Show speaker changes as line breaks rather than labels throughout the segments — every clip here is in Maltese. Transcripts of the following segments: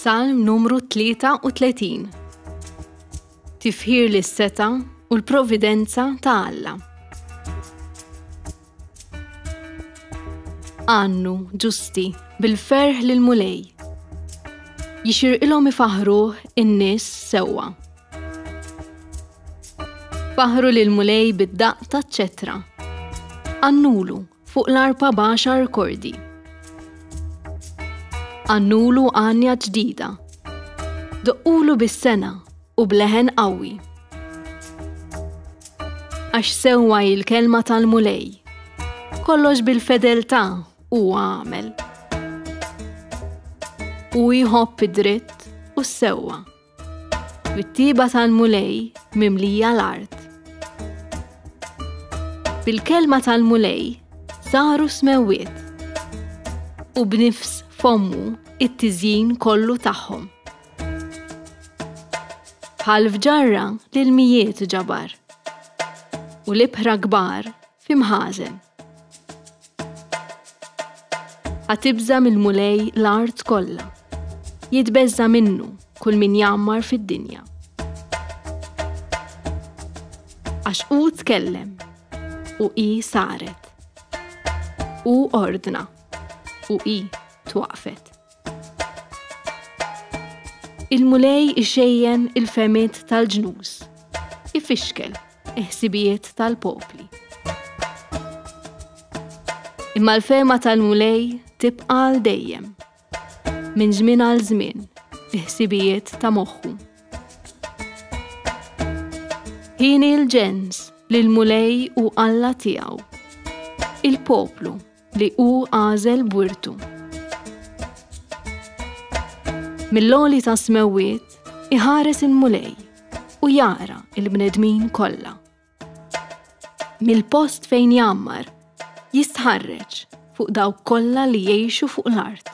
Salm numru 33 Tifħir li s-seta u l-providenza ta' Alla. Għannu, ġusti, bil-ferħ l mulej Jixir ilhom ifaħruh in-nies sewwa. Faħru l mulej bid-daq ta' ċetra. Għannulu, Fuq l-arpa baxar kordi. Għannulu għanja ġdida. Doqqulu bis-sena u bleħen qawwi. Għax sewwa il-kelma tal-mulej. Kollox bil-fedeltà u għamel. U jħobb id-dritt u s-sewwa. Bit-tieba tal-Mulej mimlija l-art. Bil-kelma tal-Mulej saru smewwiet u b'nifs fommu it-tiżjin kollu tagħhom. Bħal fġarra l-mijiet ġabar u l-ibħra kbar f'imħażen. Għatibża mill-Mulej l-art kollha. Jitbeżża minnu kull min jammar fid-dinja. Għax u tkellem u i saret. U ordna u i twaqfet. Il-Mulej ixejjen il-fehmiet tal-ġnus, ifixkel il-ħsibijiet tal-popli. Imma l-fehma tal-Mulej tibqa' għal dejjem. Minn żmien għal żmien, il-ħsibijiet ta' moħħu. Ħini l-ġens li l-Mulej u Alla tiegħu. Il-poplu li hu għażel b'wirtu. Mill-għoli tas-smewwiet iħares il-Mulej u jara il-bnedmin kollha. Mill-post fejn jammar jistħarreġ fuq dawk kollha li jgħixu fuq l-art.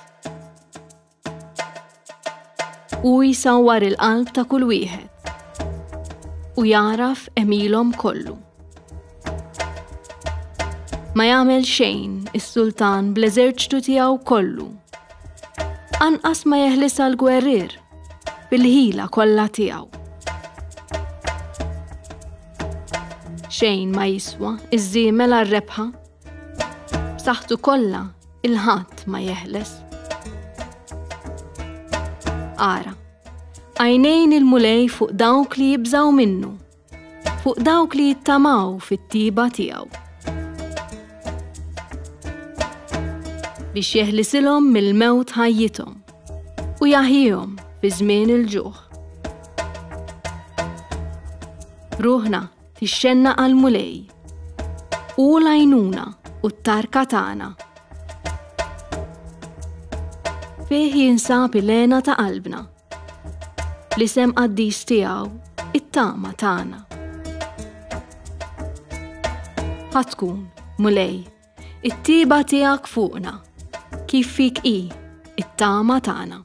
Hu jsawwar il-qalb ta' kull wieħed u jagħraf emilhom kollu. Ma jagħmel xejn is-sultan bl-eżerċtu tiegħu kollu. Anqas ma jeħlis għal gwerrir bil-ħila kollha tiegħu. Xejn ma jiswa iż-żiemel għar-rebħa B'saħħtu kollha il-ħadd ma jeħles. Ara, għajnejn il-mulej fuq dawk li jibżaw minnu, fuq dawk li jittamaw fit-tiba tiegħu. Biex jeħlisilhom mill-mewt ħajjithom u jaħjihom fi żmien il-ġuħ. Ruħna Tixxenna għall-Mulej. U l-għajnuna u t-tarka tagħna. Fih jinsab il-lena ta' qalbna. L-isem qaddis tiegħu it-tama tagħna. Ħatkun, mulej, it-tiba tiegħek fuqna, kif fik i it-tama tagħna.